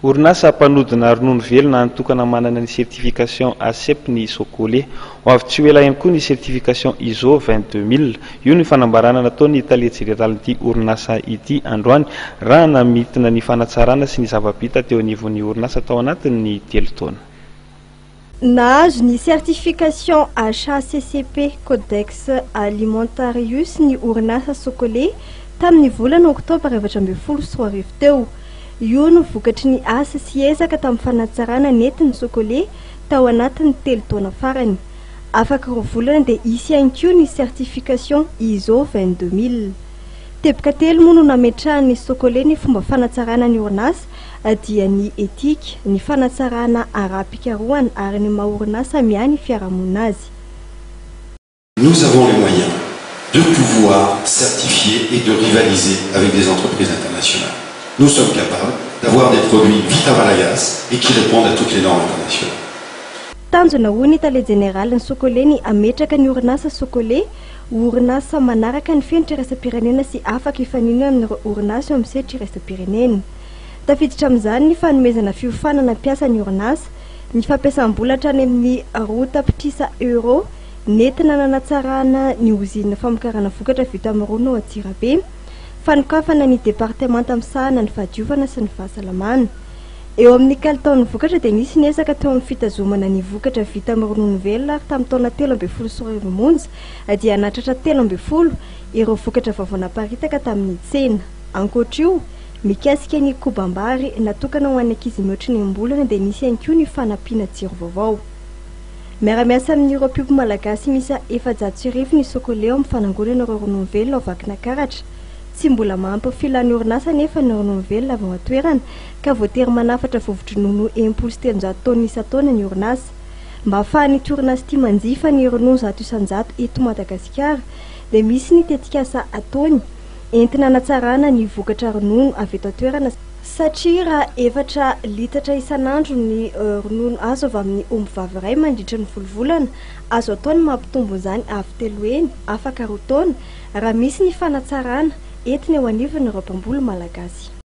Orinasa mpanodina ronono velona an'tokana manana ny certification ACEP ny Sokole. Ho avy tsy ho ela ihany koa ny certification ISO vingt deux mille. Io ny fanambarana nataon'ny tale jeneralin'ity orinasa ity androany raha namintina ny fanatsarana sy ny zava-bita teo anivon'ny orinasa tao anatin'ny telo taona. Nahazo ny certification HACCP Codex Alimentarius ny orinasa Socolait tamin'ny volana oktobra efatra ambin'ny folo sy roa arivo teo. Io no vokatry ny asa sy ezaka tamin'ny fanatsarana nety ny Socolait tao anatin'ny telo taona farany. Afaka roa volana dia hisy ihany koa ny certification ISO vingt-deux mille. Teboka telo moa no nametrahan'ny Socolait ny fomba fanatsarana ny orinasa dia ny etika, ny fanatsarana ara-pikarohana ary ny maha orinasa miahy ny fiarahamonina azy. Nous avons les moyens de pouvoir certifier et de rivaliser avec des entreprises internationales. Nous sommes capables d'avoir des produits vita malagasy et qui répondent à toutes les normes internationales. Tanjona, hoy ny Tale Jeneralin'ny Socole, ny hametraka ny orinasa Socole Ho orinasa manaraka ny fenitra iraisam-pirenena sy afaka hifaninana amin'ireo orinasa eo amin'ny sehatry iraisam-pirenena. Tafiditra amin'izany ny fanomezana fiofanana mpiasa ny orinasa, ny fampiasam-bola hatrany amin'ny roa tapitrisa euro nentina nanatsarana ny ozinina famokarana vokatra vita amin'ny rony ao Antsirabe, fanokafana ny departemanta misahana ny fahadiovana sy ny fahasalamana. Eo amin'ny kalitaon'ny vokatra dia nisy ny ezaka teo amin'ny fitazomana ny vokatra vita amin'ny ronono velona ary tamin'ny taona telo ambin'ny folo sy roa arivo monja dia nahatratra telo ambin'ny folo ireo vokatra vaovao naparitaka tamin'ny tsena. Ankoatra io, mikasika ny kobam-bary natokana ho an'ny ankizy mihoatra ny enim-bolana dia nisy ihany koa ny fanampiana jiro vaovao. Miara-miasa amin'ireo mpiompy malagasy miisa efajato sy arivo ny Socoleo amin'ny fanangonana ireo ronono velona ao Vakinakaratra. Tsy mbola mahampy ny filan'ny orinasa anefa ny ronono velona avy ao an-toerana ka voatery manafatra vovo-dronono enimpolo sy telonjato taonina isan-taona ny orinasa. Mba ahafahan'ity orinasa ity manjifa ny ronono zato isan-jato eto Madagasikara dia misy ny tetikasa ataony entina hanatsarana ny vokatra ronono avy eto an-toerana, satria raha efatra litatra isan'andro ny ronono azo avy amin'ny ombivavy iray mandritra ny folo volana, azo atao ny mampitombo an'izany avy telo heny, afaka roa taona, raha misy ny fanatsarana entiny eo anivon'ireo mpamboly malagasy.